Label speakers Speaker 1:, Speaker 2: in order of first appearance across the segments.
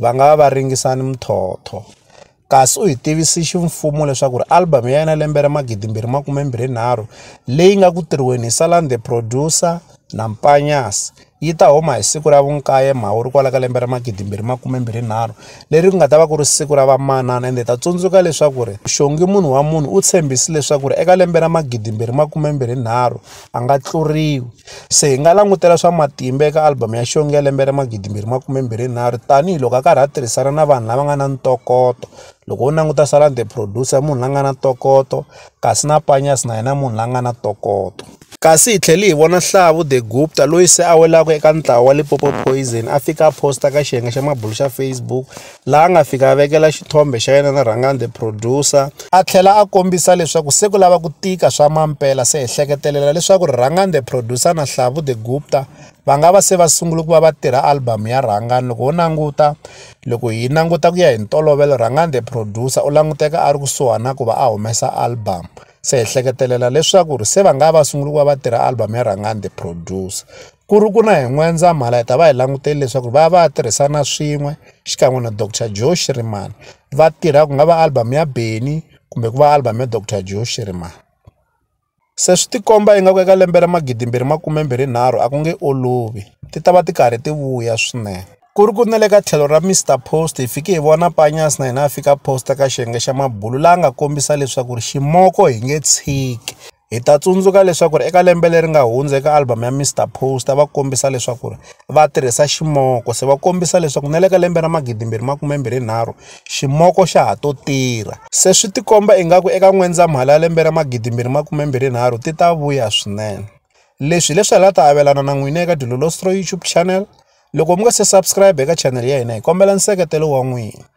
Speaker 1: va nga va va ringisa ni muthotho kasi u hi tivisi ximfumo leswaku ri album ya yena lembe ra magidi mbirhi makume mbirhi nharhu leyi nga ku tirhiweni hi salan the producer na mpanyas yi ta huma hi siku ra vunkaye mhawuri kwala ka lembe ra magidi mbirhi makume mbirhi nharhu leri ku nga ta va ku ri siku ra vamanana ende ta tsundzuka leswaku ri xongi munhu wa munhu u tshembisi leswaku ri eka lembe ra magidi mbirhi makume mbirhi nharhu a nga tluriwi se hi nga langutela swa matimba eka album ya xongi ya lembe ra magidi mbirhi makume mbirhi nharhu tanihiloko a karhi a tirhisana na vanhu lava nga na ntokoto loko u languta salan the producer munhu la nga na ntokoto kasi na panyas na yena munhu la nga na ntokoto kasi hi tlhele hi vona hlavu the gupta loyi se a welaka eka ntlawa wa lipopo poison a fika a posta ka xiyenge xa mabulu xa facebook laha a nga fika a vekela xithombe xa yena na rhangani the producer a tlhela a kombisa leswaku se ku lava ku tika swa mampela se hi hleketelela leswaku rhangani the producer na hlavu the gupta va nga va se va sungule ku va va tirha album ya rhangani loko ho languta loko hi languta ku ya hi ntolovelo rhangani the producer u languteka a ri kusuhana ku va a humesa album se hi hleketelela leswaku ri se va nga va sungule ku va va tirha album ya rhangani the producer ku ri ku na hi N'wendzamhala hi ta va hi langutele leswaku va va va tirhisana swin'we xikan'we na Doctor Joe Shirimani va tirha ku nga va album ya Benny kumbe ku va album ya Doctor Joe Shirimani se swi tikomba ingaku eka lembe ra magidimbirhi makumembirhi nharhu a ku nge olovi ti ta va ti karhi ti vuya swinene ku ri ku na le ka tlhelo ra Mister Post hi fike hi vona Panyas na yena a fika posta ka xiyenge xa Mabulu la nga kombisa leswaku ri ximoko hi nge tshiki. Hi ta tsundzuka leswaku eka lembe leri nga hundza eka album ya Mister Poster va kombisa leswaku va tirhisa ximoko se va kombisa leswaku na le ka lembe ra magidi mbirhi makume mbirhi nharhu ximoko xa ha to tirha se swi tikomba ingaku eka N'wendzamhala ya lembe ra magidi mbirhi makume mbirhi nharhu ti ta vuya swinene leswi hileswi hala ta avelana na n'wina eka Dilolostro YouTube channel loko mi nga se subscribe eka channel ya hina hi kombela nseketelo wa n'wina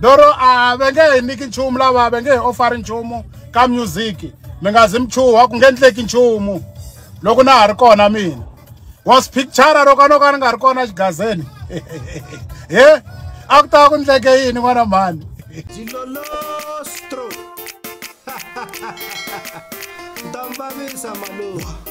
Speaker 2: doro a va nge hi niki nchumu lava va nge hi ofari nchumu ka music mi nga zi mi chuha ku nge endleki nchumu loko na ha ri kona mina was picture ro ka no ka ni nga ri kona xigazeni he a ku ta ku ndleke yini n'wana mhani
Speaker 1: Ndambabisa maluwa